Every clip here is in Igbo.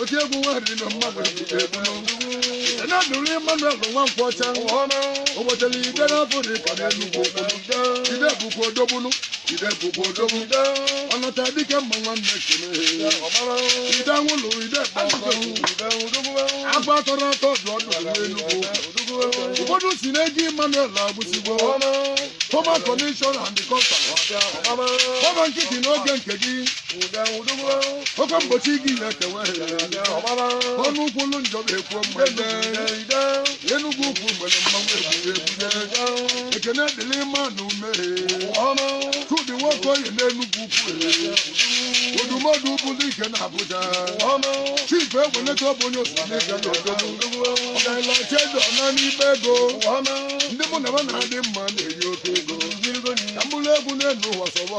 oke egwu nwa riri na mmanwụ ekene dịrị Emmanuel Nwankwọcha ụbọchịla ide na-abụ dike n'Enugwu ide bụkwa odogwu nụ ide bụkwa odogwu ọnọta dike mma nwanne kene ide nwụlụ ide agba atọrọ atọ dị ọdụ n'Enugwu ụfọdụ si na-eji Emmanuel Agbụsigbo former commissioner and kọmpa fọma nkịtị n'oge nke gị oke mgbochi gị ya kewe ọnụ ụkwụ ụlụ njọ ga-ekwu mgbede Enugwu Ukwu nwere mmanwụ ebube ebube ekene dịrị mmanwụ m Chudi Nwokoye n'Enugwu Ukwu Odumodu bụ dike na Abuja chief egweleta ọ bụ onye osimiri ga na odogwu ọdalacha eze ọna n'ime ego ndị mụ na ha na-adị mma na-eyi oke ego ka mkpụrụ egwu n'enu ụwa sọwa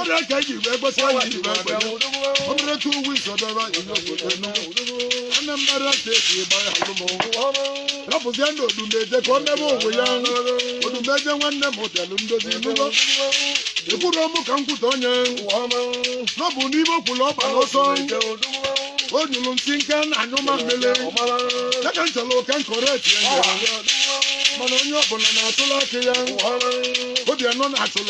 ọ dị aka iji wee gbasa ya iji wee gbanye ọ mere tu uwe isodebe anyị n'obodo Enugu Anambra steeti ịgba ya alụmụ rapụzienụ Odumeje ka ọ mebe onwe ya Odumeje nwanne m bịalụ ndozi nụgo ekwuru ọmụ ka m kwute onye na ọ bụ n'ime okwulu ọgba n'ọsọ o nyụrụ nsị nke na anyụ ma mmele ya ka m chọrọ ka m kọrọ eti ya mana onye ọbụla na-atụla aka ya obi anọ na-atụla